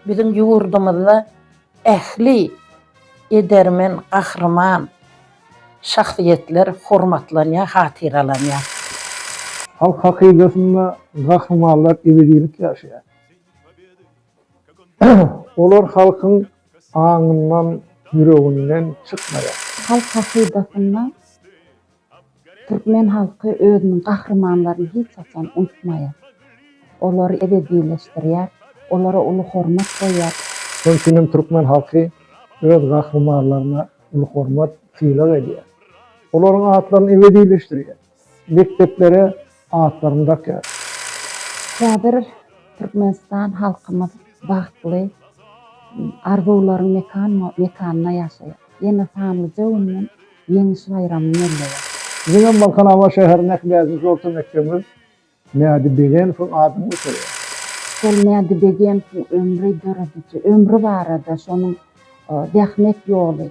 Biziň ýurdumyzda ähli edermen, gahryman şahsyýetler hormatlanýar, hatyralanýar. Halk hakydasynda gahrymanlar ebedilik ýaşaýar. Olar halkyň aňyndan, ýüreginden çykmaýar. Halk hakydasynda Türkmen halky özüniň gahrymanlaryny hiç haçan unutmaýar. Olary ebedileşdirýär, olara uly hormat goýýar. Şonuň üçin hem türkmen halky öz gahrymanlaryna uly hormat, sylag edýär. Olaryň atlaryny ebedileşdirýär. Mekdeplere atlaryny dakýar. Häzir Türkmenistan halkymyz bagtly, arzuwlaryň mekanyna ýaşaýar. Ýene sanlyja günden Ýeňiş baýramy belleýär. Biziňem Balkanabat şäherindäki bäşinji orta mekdebimiz Mädi Begenowyň adyny göterýär. Şol Mädi Begenowyň ömri, dörediji ömri barada, şonuň zähmet ýoly,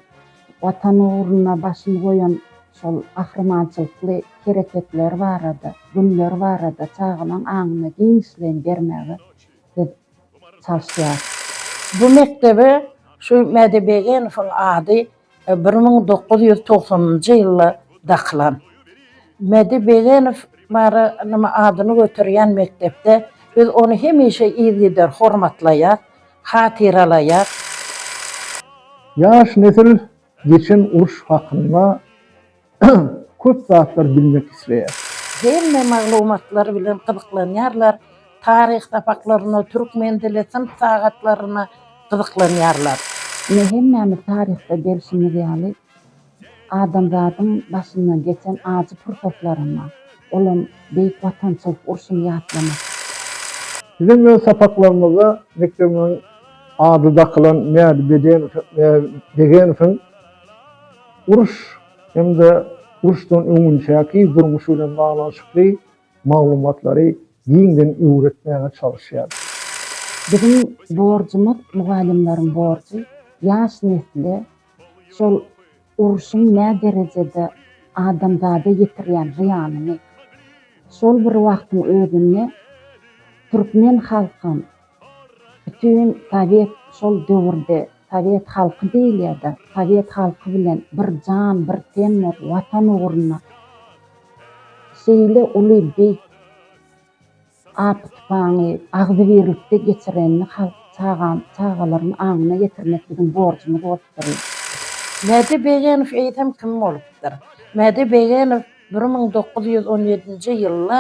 Watan ugrunda başyny goýan şol gahrymançylykly hereketleri barada, günleri barada çagalaň aňyna giňişleýin bermäge biz çalyşýarys. Bu mekdebe şu Mädi Begenowyň ady Bir müň dokuz ýüz togsanynjy ýylda dakylan Medi Begenow Mary nymy adyny göterýän mekdepde biz ony hemişe yzgider hormatlaýas, hatyralaýas. Ýaş nesil geçen uruş hakynda köp zatlar bilmek isleýär. Hemme maglumatlar bilen gyzyklanýarlar, taryh sapaklaryna, türkmen dili synp sagatlaryna gyzyklanýarlar. Ine hemmämiz taryhda gelşimiz ýaly adamzadyň başyndan geçen ajy pursatlaryna, olam Beýik Watançylyk urşuny ýatlamak. Siziň öz sapaklaryňyzda mekdebiňiziň ady dakylan Mädi Bedenow Begenowyň Uruş hem-de uruşdan öňünçäki durmuş bilen baglanyşykly maglumatlary giňden öwretmäge çalyşýar. Biziň borjumyz, mugallymlaryň borjy ýaş nesle şol urşuň nä derejede adamzada ýetirýän zyýanyny, şol bir wagtyň özünde türkmen halkam, Bütin sowet şol döwürde sowet halky diýilýärdi, sowet halky bilen bir jan, bir ten bolup watan ugruna şeýle uly beýik apy-tupaňy agzybirlikde geçirenini halk çagalaryň aňyna getirmek biziň borjumyz bolupdyr. Mädi Begenow eýsem kim bolupdyr? Mädi Begenow bir müň dokuz ýüz on ýedinji ýylda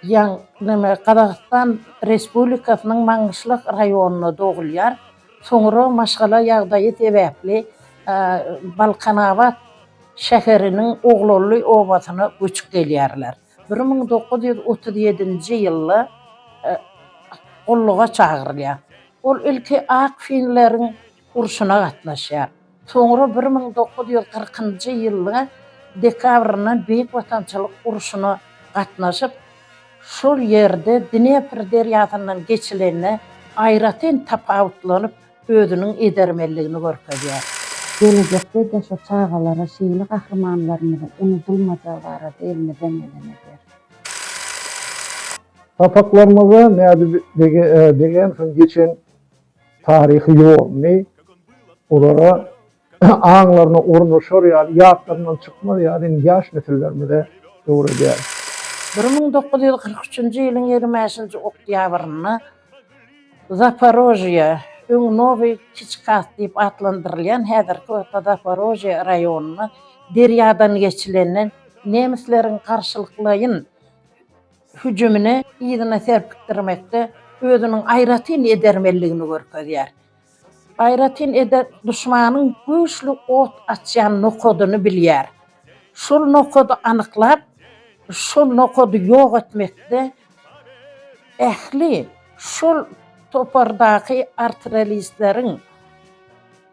Ýaň Neme Gazagystan Respublikasynyň Maňgyşlak raýonynda dogulýar. Soňra maşgala ýagdaýy sebäpli Balkanabat şäheriniň Oglally obasyna göçüp gelýärler. Bir müň dokuz ýüz otuz ýedinji ýylda gulluga çagyrylýar. Ol ilki ak finleriň urşuna gatnaşýar. Soňra bir müň dokuz ýüz kyrkynjy ýylyň dekabryndan Beýik Watançylyk urşuna gatnaşyp, şol ýerde Dnepr derýasyndan geçilende aýratyn tapawutlanyp, özüniň edermenligini görkezýär. Gelejekde de-şo çagalara şeýle gahrymanlarymyzyň unudylmajagy barada elmizden geleni ederis. Sapaklarymyzda Mädi bege degänsoň geçen Taryhy ýoluny olara aňlaryna ornaşar ýaly, ýatlaryndan çykmaz ýaly indi ýaş nesillerimize öwredýäris. Bir müň dokuz ýüz kyrk üçünji ýylyň ýigrimi bäşinji oktýabrynda Zaparožýe, öň Nowy Kiçkas diýip atlandyrylýan, häzirki wagtda Zaparožýe raýonynda derýadan geçilende, nemisleriň garşylyklaýyn, hüjümini yzyna serpikdirmekde özüniň aýratyn edermenligini görkezýär. Aýratyn eder duşmanyň güýçli ot açýan nokadyny bilýär. Şol nokady anyklap, şol nokady ýok etmekde ähli şol topardaky artrelistleriň,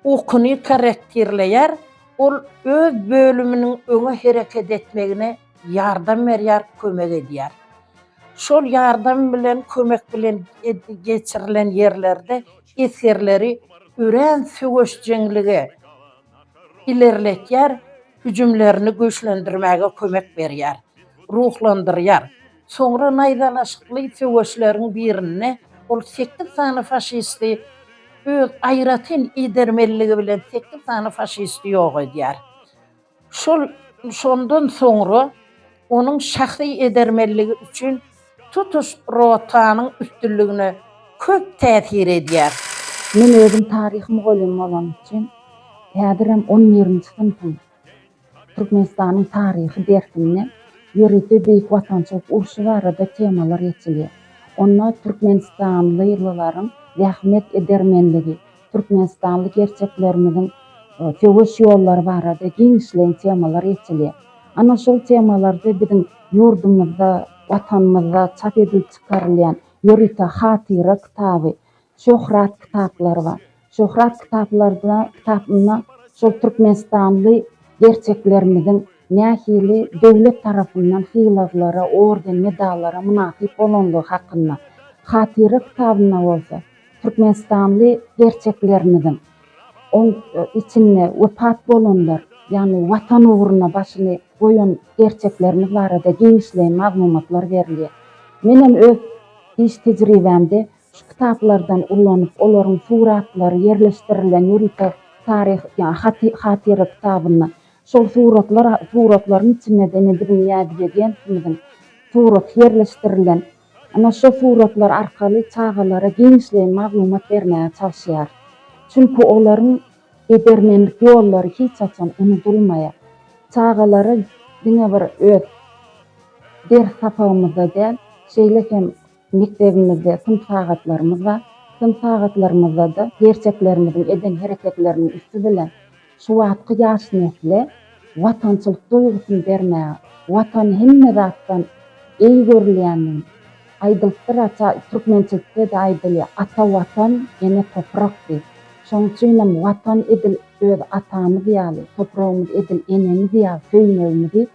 Ukyny korrektirleýär, ol öz bölüminiň öňe hereket etmegine ýardam berýär, kömek edýär. Şol ýardam bilen, kömek bilen geçirilen ýerlerde esgerleri örän söweşjeňligi ilerletýär, hüjümlerini güýçlendirmäge kömek berýär, ruhlandyrýar. Soňra naýzalaşykly söweşleriň birinde ol sekiz sany faşisti öz aýratyn edermenligi bilen sekiz sany faşisti ýok edýär. Şol şondan soňra onuň şahsy edermenligi üçin tutuş rotanyň üstünligine köp täsir edýär. Men özüm taryh mugallymy bolanym üçin häzirem on birinji synpyň Türkmenistanyň taryhy dersinde ýörite Beýik Watançylyk urşy barada temalar geçilýär. Onda türkmenistanlylylaryň zähmet edermenligi, türkmenistanly gerçeklerimiziň söweş ýollary barada giňişleýin temalar geçilýär. Ana şol temalarda biziň ýurdumyzda, Watanymyzda çap edilip çykarylýan ýörite hatyra kitaby Şöhrat kitaplary bar. Şöhrat kitaplarda kitapynda şol türkmenistanly gerçeklerimiziň nähili döwlet tarapyndan sylaglara, orden, medallara mynasyp bolanlygy hakynda, hatyra kitabynda bolsa türkmenistanly gerçeklerimiziň oň içinde wepat bolanlar, ýagny Watan ugruna başyny goýan gerçeklerimiz barada giňişleýin maglumatlar berilýär. Menem öz iş tejribämde Şu kitaplardan ulanyp, olaryň suratlary ýerleşdirilen ýörite taryh, ýa haty, hatyra kitabyna, şol suratlar, suratlaryň içinde-de Nediriniň Ýazbegentimiziň suraty ýerleşdirilen. Ana, şo suratlar arkaly çagalara giňişleýin maglumat bermäge çalyşýarys. Çünki olaryň edermenlik ýollary hiç haçan unudylmaýar. Çagalara diňe bir öz ders sapagymyzda däl, şeýle hem, Mekdebimizde synp sagatlarymyz bar. Synp sagatlarymyzda-da gerçeklerimiziň eden hereketleriniň üsti bilen şu wagtky ýaş nesle watançylyk duýgusyny bermäge, Watan hemme zatdan eý görülýändigini, aýdylypdyr, ata, türkmençilikde-de aýdylýar, Ata Watan, ene toprak diýip. Şonuň üçinem Watan edil öz atamyz ýaly, topragymyz edil enemiz ýaly söýmegimizi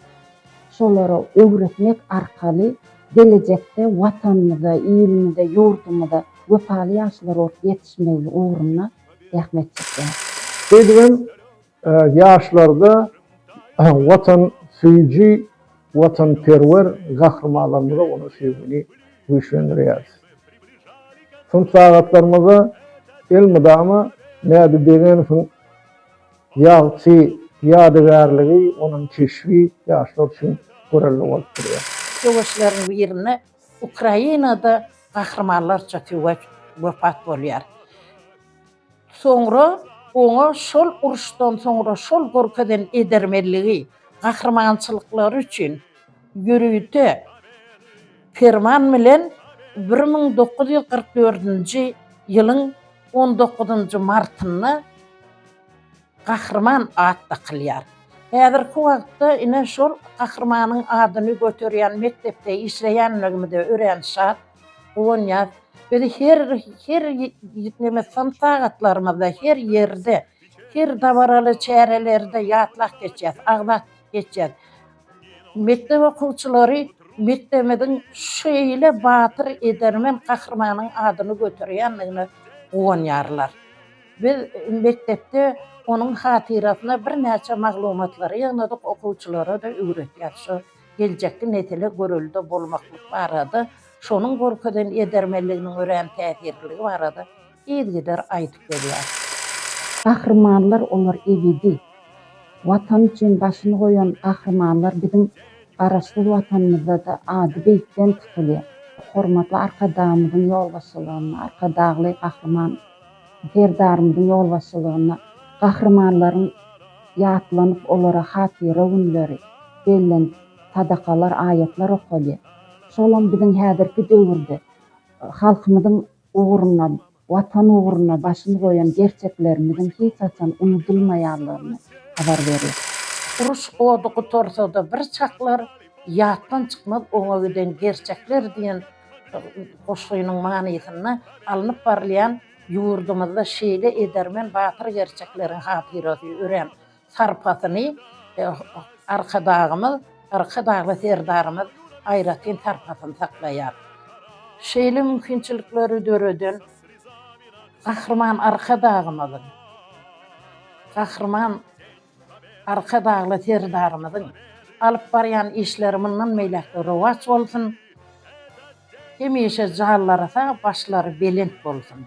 Şolara öwretmek arkaly gelejekde Watanymyza, ilimize, ýurdumyza wepaly ýaşlar bolup ýetişmegli ugrunda zähmet çekýäris. Şeýdibem, ýaşlarda watansöýüji, watanperwer gahrymanlarymyza bolan söýgini güýçlendirýäris. Synp sagatlarymyzda elmydama Mädi Begenowyň Ýagty ýadygärligi, onuň keşbi ýaşlar üçin görelde bolup durýar. Söweşleriň birinde Ukrainada gahrymanlarça söweş wepat bolýar. Soňra oňa şol uruşdan soňra şol görkezen edermenligi, gahrymançylyklary üçin ýörite. Perman bilen bir müň dokuz ýüz kyrk dördünji ýylyň on dokuzynjy martynda Gahryman at dakylýar. Häzirki wagtda ine şol Gahrymanyň adyny göterýän mekdepde işleýänligimize örän şat, guwanýas. Biz her her neme sagatlarymyzda, her ýerde, her dabaraly çärelerde ýatlap geçýäs. Agzat. geçýär. Mekdep okuwçylary mekdebimiziň şeýle batyr, edermen gahrymanyň adyny göterýändigine guwanýarlar. Biz mekdepde onuň hatyrasyna birnäçe maglumatlary ýygnadyk, okuwçylara-da öwretýäris. Şu geljekki nesle görelde bolmaklyk barada, şonuň görkezen edermenliginiň örän täsirliligi barada yzgider aýdyp gelýär. Gahrymanlar olar ebedi. Watan üçin başyny goýan gahrymanlar biziň Garaşsyz Watanymyzda-da ady beýikden tutulýar. Hormatly Arkadagymyzyň ýolbaşçylygynda, Arkadagly Gahryman Serdarymyzyň ýolbaşçylygynda gahrymanlaryň ýatlanyp, olara hatyra günleri bellenip, sadakalar, aýatlar okalýar. Şolam biziň häzirki döwürde halkymyzyň ugruna, Watan ugruna başyny goýan gerçeklerimiziň hiç haçan unudylmaýanlygyny habar berýär. Uruş ody gutarsa-da bir çaklar, ýatdan çykmaz oňa giden gerçekler diýen goşgynyň manysynda alnyp barylýan ýurdumyzda şeýle edermen, batyr gerçekleriň hatyrasy örän sarpasyny Arkadagymyz, Arkadagly Serdarymyz aýratyn sarpasyny saklaýar. Şeýle mümkinçilikleri döreden Gahryman Arkadagymyzyň, Gahryman Arkadagly Serdarymyzyň alyp barýan işleri mundan beýläk-de rowaç bolsun, hemişe janlary sag, başlary belent bolsun!